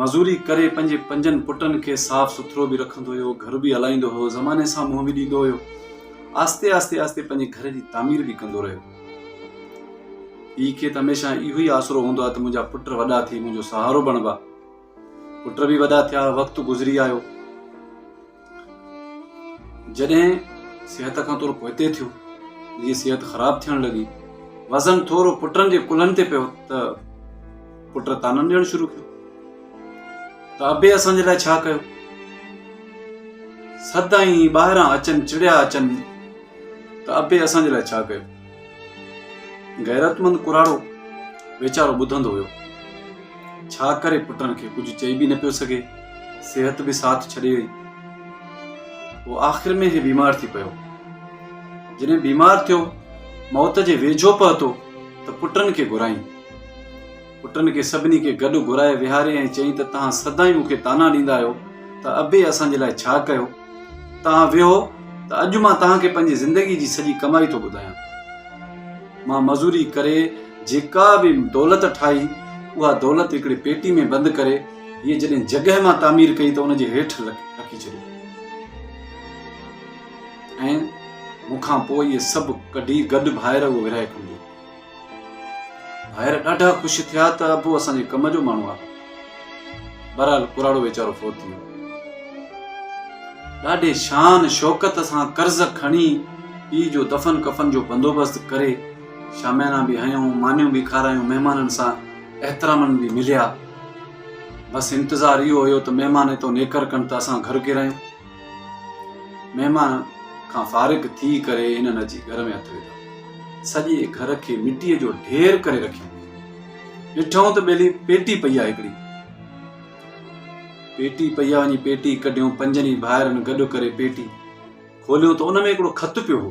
مزوري ڪري پنهنجي پنجن پٽن کي صاف سٿرو به رکندو هيو گهر به هلائيندو هيو زماني سان منهن به ڏيندو هيو آهستي آهستي آهستي پنهنجي گهر جي تعمير به ڪندو رهيو پيء کي ته هميشه اهو ئي آسرو هوندو آهي ته منهنجا پٽ وڏا ٿي منهنجو سهارو بڻبا پٽ به وڏا ٿيا وقت گذري آيو جڏهن صحت کان ٿورو پوئتي ٿيو جيئن صحت خراب ٿيڻ لڳي وزن ٿورو پٽن جي ڪلهن تي پيو ته پٽ تانن ڏيڻ شروع ڪيو ته ابي اسانجي لاء ڇا ڪيو سدائين ٻاهران اچن چڙيا اچن ته ابي اسانجي لاء ڇا ڪيو غيرتمند ڪراڙو ويچارو ٻڌندو هيو. ڇا ڪري پٽن کي ڪجهه چئي به نه پيو سگهي. صحت به ساٿ ڇڏي وئي. پوء آخر ۾ هي بيمار ٿي پيو. جڏهن بيمار ٿيو موت جي ويجهو پهتو ته پٽن کي گهرائين. پٽن کي سڀني کي گڏ گهرائي ويهاري ۽ چيائين ته توهان سدائين مون کي طعنا ڏيندا آهيو ته ابي اسان جي لاء ڇا ڪيو؟ توهان ويهو ته اڄ مان توهان کي پنهنجي زندگي جي سڄي ڪمائي ٿو ٻڌايان. مان مزوري ڪري جيڪا به دولت ٺاهي اها دولت هڪڙي پيٽي ۾ بند ڪري هيء جڏهن جڳهه مان تعمير ڪئي ته ان جي هيٺ رکي ڇڏي ۽ مون کان پوء اهي سڀ ڪڍي گڏ ڀائر اهو ورهائي کنڊيو. ڀائر ڏاڍا خوش ٿيا ته ابو اسان جي ڪم جو ماڻهو آهي. بهرحال ڪراڙو ويچارو فوت ٿي ويو. ڏاڍي شان شوڪت سان قرض کڻي پيء جو دفن ڪفن جو بندوبست ڪري شاميانا به هنيون، مانيون به کارايون، مهمانن سان احترامن به مليا. بس انتظار اهو هيو ته مهمان اتو نيڪر ڪن ته اسان گهر ڪيرايون. مهمان کان فارغ ٿي ڪري هنن اچي گهر ۾ هٿ وڌو. سڄي گهر کي مٽيء جو ڍير ڪري رکيو. ڏٺائون ته ٻيلي پيٽي پئي آ هڪڙي. پيٽي پئي آ وڃي پيٽي ڪڍيون پنجن ئي ڀائرن گڏ ڪري پيٽي کوليون ته ان ۾ هڪڙو خط پيو هو.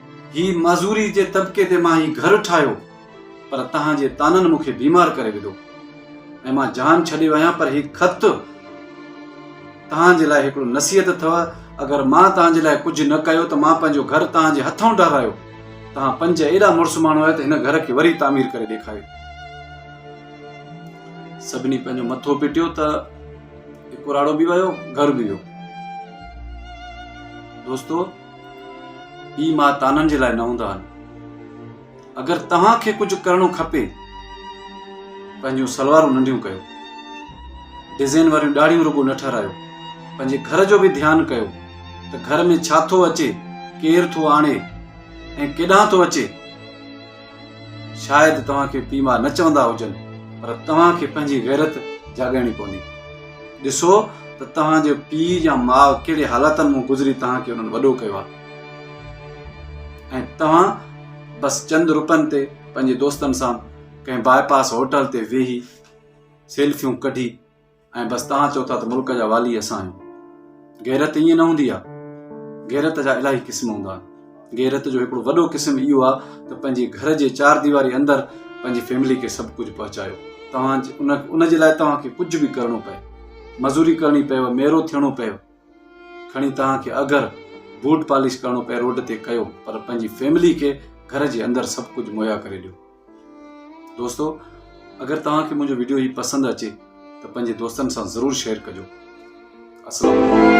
هي معذوري جي طبقي تي مان هي گهر ٺاهيو پر توهان جي طعنن مون کي بيمار ڪري وڌو ۽ مان جهان ڇڏيو آهيان پر هي خط توهان جي لاء هڪڙو نصيحت اٿو اگر مان توهان جي لاء ڪجهه نه ڪيو ته مان پنهنجو گهر توهان جي هٿون ڊهرايو توهان پنج ايڏا مڙس ماڻهو آهيو ته هن گهر کي وري تعمير ڪري ڏيکاريو سڀني پنهنجو مٿو پٽيو ته ڪراڙو به ويو گهر به ويو دوستو پيء ماء تانن جي لاء نه هوندا آهن. اگر توهان کي ڪجهه ڪرڻو کپي پنهنجون سلوارون ننڍيون ڪيو ڊزين واريون ڏاڙهيون رڳو نه ٺهرايو پنهنجي گهر جو به ڌيان ڪيو ته گهر ۾ ڇا ٿو اچي ڪير ٿو آڻي ۽ ڪيڏانهن ٿو اچي شايد توهان کي پيء ماء نه چوندا هجن پر توهان کي پنهنجي غيرت جاڳائڻي پوندي. ڏسو ته توهان جو پيء يا ماء ڪهڙي حالاتن مون گذري توهان کي انهن وڏو ڪيو آهي ۽ توهان بس چند روپين تي پنهنجي دوستن سان ڪنهن باء پاس هوٽل تي ويهي سيلفيون ڪڍي ۽ بس توهان چئو ٿا ته ملڪ جا والي اسان آهيون. غيرت ائين نه هوندي آهي. غيرت جا الاهي قسم هوندا آهن. غيرت جو هڪڙو وڏو قسم اهو آهي ته پنهنجي گهر جي چار ديواري اندر پنهنجي فيملي کي سڀ ڪجهه پهچايو. توهان ان ان جي لاء توهان کي ڪجهه به ڪرڻو پئي. مزوري ڪرڻي پيو، ميرو ٿيڻو پيو. کڻي توهان کي اگر بوٽ پالش ڪرڻو پئي روڊ تي ڪيو پر پنهنجي فيملي کي گهر جي اندر سڀ ڪجهه مهيا ڪري ڏيو. دوستو اگر توهان کي منهنجو ويڊيو هي پسند اچي ته پنهنجي دوستن سان ضرور شيئر ڪجو السلام